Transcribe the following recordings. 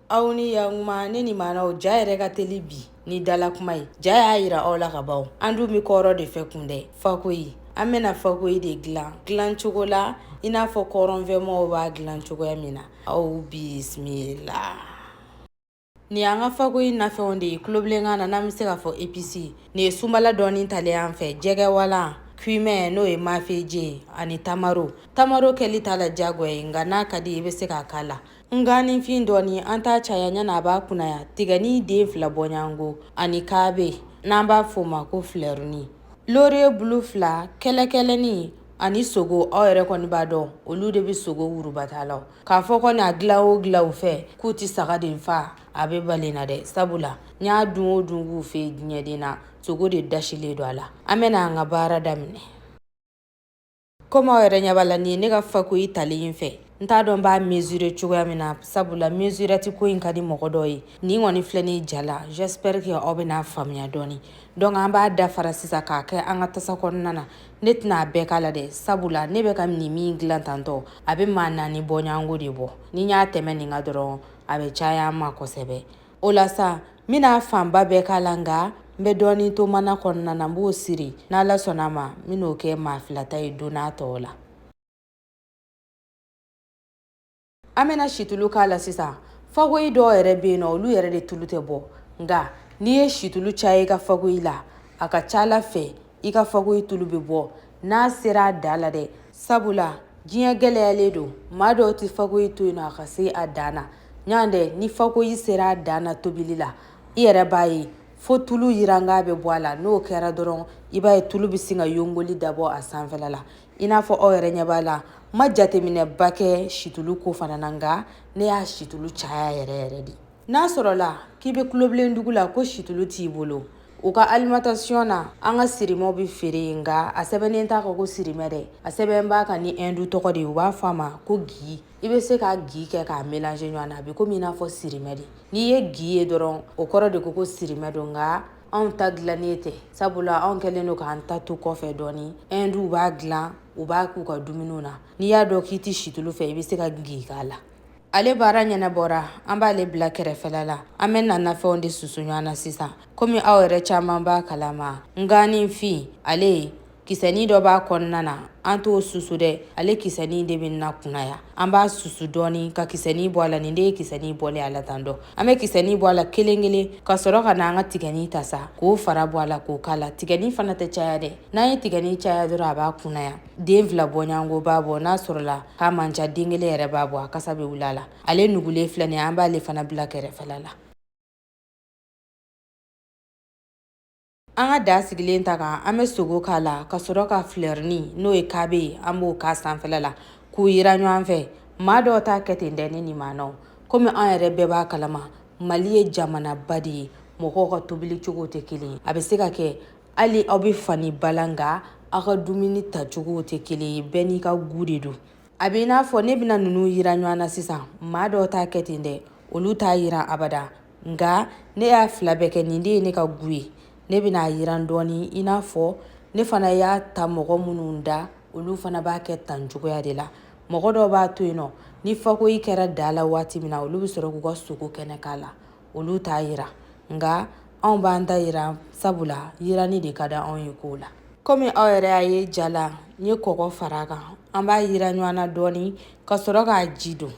aw ni yakuma ne ni maanaw ja yɛrɛ ka teli bi ni dala kuma ye ja y'a yira aw la ka ban an dun be kɔrɔn de fɛ kun dɛ fakoyi an bena fakoyi de dilan dilan cogo la i n'a fɔ kɔrɔnfɛmɔgɔw b'a dilan cogoya min na aw bisimila ni an ka fakoyi nafɛnw de ye tulobilenkan na n'an be se k'a fɔ episi nin ye sunbala dɔɔni talen an fɛ jɛgɛwalan cumin n'o ye mafeje ani tamaro tamaro kɛli t'a la jagoya ye nka n'a ka di i be se k'a k'a la Nganifin dɔɔni an t'a caya ɲɛna a b'a kunaya tigɛni den fila bɔɲɔgɔnko ani kaabe n'an b'a f'o ma ko filɛruni laurier bulu fila kɛlɛkɛlɛni ani sogo aw yɛrɛ kɔni b'a dɔn olu de bɛ sogo wurubata la k'a fɔ kɔni a dilan o dilan u fɛ k'u tɛ sagaden faa a bɛ bali n na dɛ sabula n y'a dun o dun k'u fɛ diɲɛden na sogo de dasilen don a la an bɛna an ka baara daminɛ Kɔmi aw yɛrɛ ɲɛ b'a la nin ye ne ka fakoyi talen in fɛ n t'a dɔn n b'a mesurer cogoya min na sabula mesurette ko in ka di mɔgɔ dɔ ye nin kɔni filɛ nin ja la j'espère que aw bɛn'a faamuya dɔɔni donc an b'a dafara sisan k'a kɛ an ka tasa kɔnɔna na ne tɛna a bɛɛ k'a la dɛ sabula ne bɛ ka nin min dilan tantɔ a bɛ maa naani bɔɲɔgɔnko de bɔ ni n y'a tɛmɛ nin kan dɔrɔn a bɛ caya an ma kosɛbɛ o la sa n bɛna fanba bɛɛ k'a la nka n bɛ dɔɔnin to mana kɔnɔna na n b'o siri n'ala sɔnna a ma n bɛn'o kɛ maa fila ta ye don natɔw la an bɛna situlu k'a la sisan fakoyi dɔw yɛrɛ bɛ yen nɔ olu yɛrɛ de tulu tɛ bɔ nka n'i ye situlu caya i ka fakoyi la a ka ca ala fɛ i ka fakoyi tulu bɛ bɔ n'a sera a dan la dɛ sabula diɲɛ gɛlɛyalen don maa dɔw tɛ fakoyi to yen nɔ a ka se a dan na yan dɛ ni fakoyi sera a dan na tobili la i yɛrɛ b'a ye fo tulu yiranka bɛ bɔ a la n'o kɛra dɔrɔn i b'a ye tulu bɛ sin ka yongoli dabɔ a sanfɛla la i n'a fɔ aw yɛrɛ ɲɛ b'a la n ma jateminɛba kɛ situlu ko fana na nka ne y'a situlu caya yɛrɛ yɛrɛ de n'a sɔrɔla k'i bɛ tulobilen dugu la ko situlu t'i bolo u ka alimentation na an ka sirimɛw bɛ feere yen nka a sɛbɛnnen t'a kan ko sirimɛ dɛ a sɛbɛn b'a kan ni ɛndu tɔgɔ de ye u b'a fɔ a ma ko gi i bɛ se ka gi kɛ k'a mélanger ɲɔgɔn na a bɛ komi i n'a fɔ sirimɛ de n'i ye gi ye dɔrɔn o kɔrɔ de ko ko sirimɛ don nka anw ta dilannen tɛ sabula anw kɛlen don k'an ta to kɔfɛ dɔɔni ɛnduw b'a dilan u b'a k'u ka dumuniw na n'i y'a dɔn k'i tɛ situlu fɛ i bɛ se ka gi k'a la ale baara ɲɛnabɔra an b'ale bila kɛrɛfɛla la an bɛna nafɛnw de susu ɲɔgɔn na sisan komi aw yɛrɛ caman b'a kalama nganifin ale Kisɛnin dɔ b'a kɔnɔna na an t'o susu dɛ ale kisɛnin de bɛ na kunaya an b'a susu dɔɔni ka kisɛnin bɔ a la nin de ye kisɛnin bɔlen a la tan dɔ an bɛ kisɛnin bɔ a la kelen kelen ka sɔrɔ ka na an ka tigɛni ta sa k'o fara bɔ a la k'o k'a la tigɛni fana tɛ caya dɛ n'an ye tigɛni caya dɔrɔn a b'a kunaya den fila bɔɲɔgɔnko b'a bɔ n'a sɔrɔla k'a man ca den kelen yɛrɛ b'a bɔ a kasa bɛ wuli a la ale nugulen filɛ nin an b'ale fana bila kɛrɛfɛla la An ka da sigilen ta kan an bɛ sogo k'a la ka sɔrɔ ka filɛrinin n'o ye kabe ye an b'o k'a sanfɛla la k'u yira ɲɔgɔn fɛ maa dɔw t'a kɛ ten dɛ ni nin maa na komi an yɛrɛ bɛɛ b'a kalama mali ye jamanaba de ye mɔgɔw ka tobili cogo tɛ kelen ye a bɛ se ka kɛ hali aw bɛ fa ni ba la nka aw ka dumuni tacogo tɛ kelen ye bɛɛ n'i ka gu de don a bɛ i n'a fɔ ne bɛna ninnu yira ɲɔgɔn na sisan maa dɔw t'a kɛ ten dɛ olu t'a yira abada nka ne y'a fila bɛɛ kɛ nin de ye ne ka gu ye ne bɛna a yiran dɔɔni i n'a fɔ ne fana y'a ta mɔgɔ minnu da olu fana b'a kɛ tan cogoya de la mɔgɔ dɔw b'a to yen nɔ ni fakoyi kɛra da la waati min na olu bɛ sɔrɔ k'u ka sogo kɛnɛ k'a la olu t'a yira nka anw b'an ta yira sabula yiranni de ka di anw ye kow la komi aw yɛrɛ y'a ye ja la n ye kɔgɔ fara a kan an b'a yira ɲɔgɔn na dɔɔni ka sɔrɔ k'a ji don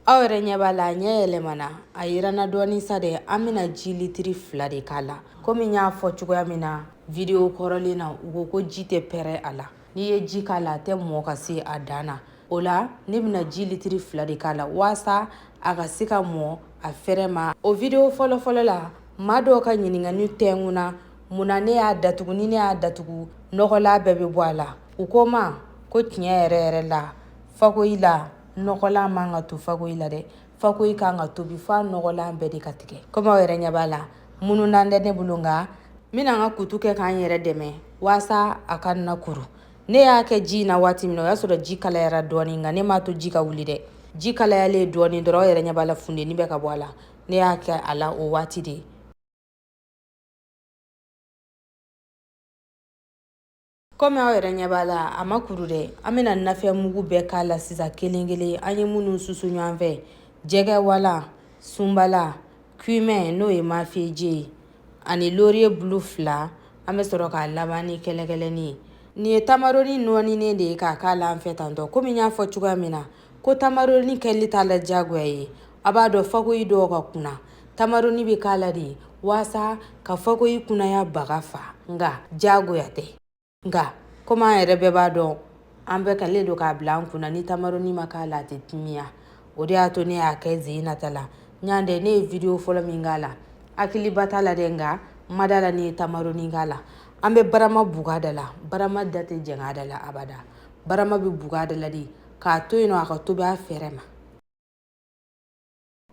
aw yɛrɛ ɲɛ b'a la a ɲɛ yɛlɛmana a yiranna dɔɔni sa dɛ an bɛna ji litiri fila de k'a la komi n y'a fɔ cogoya min na videwo kɔrɔlen na u ko ko ji tɛ pɛrɛ a la n'i ye ji k'a la a tɛ mɔɔ ka se a dan na o la ne bɛna ji litiri fila de k'a la waasa a ka se ka mɔɔ a fɛrɛ ma o videwo fɔlɔfɔlɔ la maa dɔw ka ɲininkani tɛngun na mun na ne y'a datugu ni ne y'a datugu nɔgɔlan bɛɛ bɛ bɔ a la u ko ma ko tiɲɛ yɛrɛ yɛrɛ la fakoyi la nɔgɔlan man ka to fakoyi la dɛ fakoyi kan ka tobi f'a nɔgɔlan bɛɛ de ka tigɛ komi aw yɛrɛ ɲɛ b'a la mununan tɛ ne bolo nka n bɛna n ka kutu kɛ ka n yɛrɛ dɛmɛ waasa a kana kuru ne y'a kɛ ji in na waati min na o y'a sɔrɔ ji kalayara dɔɔnin nka ne m'a to ji ka wuli dɛ ji kalayalen dɔɔnin dɔrɔn aw yɛrɛ ɲɛ b'a la funteni bɛ ka bɔ a la ne y'a kɛ a la o waati de kɔmi aw yɛrɛ ɲɛ b'a la a ma kuru dɛ an bɛna nafɛn mugu bɛɛ k'a la sisan kelen kelen an ye minnu susu ɲɔgɔn fɛ jɛgɛwala sunbala kumɛn n'o ye mafeeje ye ani loriye bulu fila an bɛ sɔrɔ k'a laban ni kɛlɛkɛlɛni ye nin ye tamaroni nɔɔninen de ye k'a k'a la an fɛ tantɔ komi n y'a fɔ cogoya min na ko tamaroni kɛli t'a la diyagoya ye a b'a dɔn fakoyi dɔw ka kunan tamaroni bɛ k'a la de waasa ka fakoyi kunanya baga fa nka jagoya tɛ nka komi an yɛrɛ bɛɛ b'a dɔn an bɛɛ kɛlen don k'a bila an kun na ni tamaroni ma k'a la a tɛ timiya o de y'a to ne y'a kɛ sen in ta la ɲan dɛ ne ye video fɔlɔ min k'a la hakiliba t'a la dɛ nka n ma da a la ne ye tamaroni k'a la an bɛ barama buga da la barama da tɛ jɛng'a da la abada barama bɛ buga da la de k'a to yen nɔ a ka tobi a fɛrɛ ma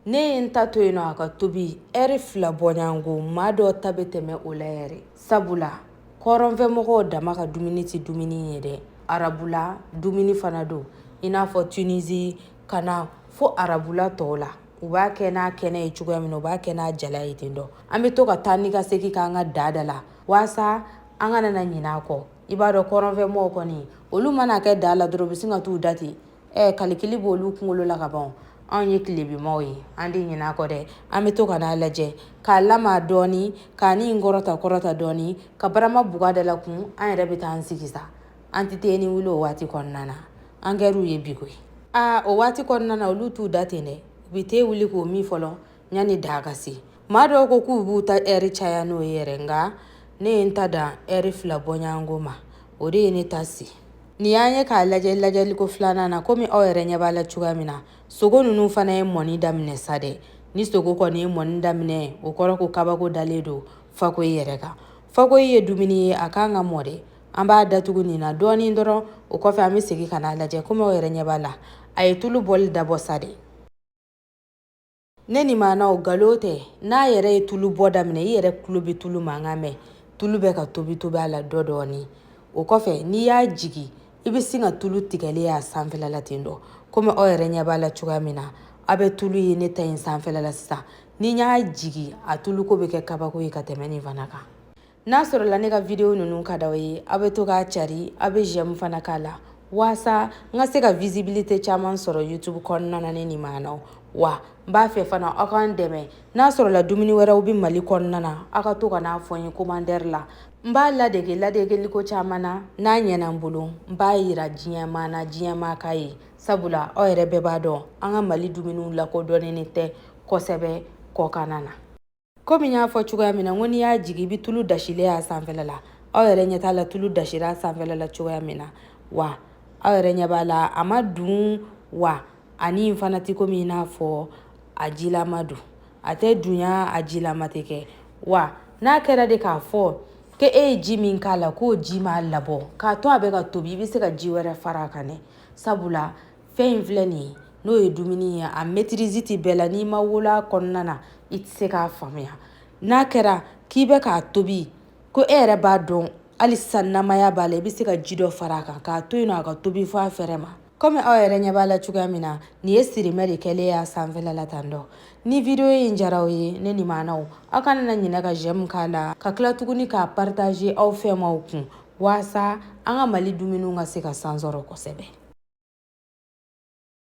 ne ye n ta to yen nɔ a ka tobi ɛri fila bɔɲɔgɔnko maa dɔw ta bɛ tɛmɛ o la yɛrɛ sabula kɔrɔnfɛmɔgɔw dama ka dumuni tɛ dumuni ye dɛ arabula dumuni fana don i n'a fɔ tunisi ka na fo arabula tɔw la u b'a kɛ n'a kɛnɛ ye cogoya min na u b'a kɛ n'a jalan ye ten dɔ an bɛ to ka taa ni ka segin k'an ka da da la waasa an kana na ɲinɛ a kɔ i b'a dɔn kɔrɔnfɛmɔgɔw kɔni olu man'a kɛ da la dɔrɔn u bɛ sin ka t'u da ten ɛ kalikili b'olu kunkolo la ka ban anw ye tilebinmaaw ye an tɛ ɲinɛ a kɔ dɛ an bɛ to ka n'a lajɛ k'a lamaa dɔɔni ka nin kɔrɔta kɔrɔta dɔɔni ka barama buga da la kun an yɛrɛ bɛ taa an sigi sa an tɛ teni wuli o waati kɔnɔna na an kɛr'u ye bi koyi aa o waati kɔnɔna na olu t'u da ten dɛ u bɛ te wuli k'o min fɔlɔ yanni da ka se maa dɔw ko k'u b'u ta ɛri caya n'o ye yɛrɛ nka ne ye n ta dan ɛri fila bɔɲɔgɔnko ma o de ye ne ta se nin y'an ye k'a lajɛ lajɛliko filanan na komi aw yɛrɛ ɲɛ b'a la cogoya min na sogo ninnu fana ye mɔni daminɛ sa dɛ ni sogo kɔni ye mɔni daminɛ o kɔrɔ ko kabako dalen don fakoyi yɛrɛ kan fakoyi ye dumuni ye a kan ka mɔ dɛ an b'a datugu nin na dɔɔnin dɔrɔn o kɔfɛ an bɛ segin ka n'a lajɛ komi aw yɛrɛ ɲɛ b'a la a ye tulu bɔli dabɔ sa dɛ ne ni maanaw galon tɛ n'a yɛrɛ ye tulu bɔ daminɛ i yɛrɛ tulo bɛ tulu mankan mɛn tulu bɛ ka tobi tobi a la dɔ dɔɔni o kɔfɛ n'i y'a jigi i bɛ sin ka tulu tigɛlen y'a sanfɛla la ten dɔ komi aw yɛrɛ ɲɛ b'a la cogoya min na aw bɛ tulu ye ne ta in sanfɛla la sisan ni n y'a jigi a tuluko bɛ kɛ kabako ye ka tɛmɛ nin fana kan n'a sɔrɔla ne ka video ninnu ka d'aw ye aw bɛ to k'a cari aw bɛ j'aime fana k'a la waasa n ka se ka visibilité caman sɔrɔ youtube kɔnɔna na ne ni maanaw wa n b'a fɛ fana aw k'an dɛmɛ n'a sɔrɔla dumuni wɛrɛw bɛ mali kɔnɔna na aw ka to ka n'a fɔ n ye commentaire la n b'a ladege ladegeliko caman na n'a ɲɛna n bolo n b'a yira diɲɛmaa na diɲɛmaa k'a ye sabula aw yɛrɛ bɛɛ b'a dɔn an ka mali dumuniw lakodɔnnen tɛ kosɛbɛ kɔkanna na komi n y'a fɔ cogoya min na n ko n'i y'a jigin i bɛ tulu dasilen y'a sanfɛla la aw yɛrɛ ɲɛ t'a la tulu dasira a sanfɛla la cogoya min na wa aw yɛrɛ ɲɛ b'a la a man dun wa ani fana tɛ komi i n'a fɔ a jilama don a tɛ dunya a jilama tɛ kɛ wa n'a kɛra de k'a fɔ ko e ye ji min k'a la k'o ji m'a labɔ k'a to a bɛ ka tobi i bɛ se ka ji wɛrɛ fara a kan dɛ sabula fɛn in filɛ nin ye n'o ye dumuni ye a maîtrise tɛ bɛɛ la n'i ma wolo a kɔnɔna na i tɛ se k'a faamuya n'a kɛra k'i bɛ k'a tobi ko e yɛrɛ b'a dɔn hali sisan namaya b'a la i bɛ se ka ji dɔ fara a kan k'a to yen nɔ a ka tobi fɔ a fɛɛrɛ ma kɔmi aw yɛrɛ ɲɛ b'a la cogoya min na nin ye sirimɛ de kɛlen y'a sanfɛla la tan donc ni video in diyara aw ye ne ni maanaw aw kana na ɲinɛ ka j'aime k'a la ka tila tuguni k'a partager aw fɛmaw kun waasa an ka mali dumuniw ka se ka san sɔrɔ kosɛbɛ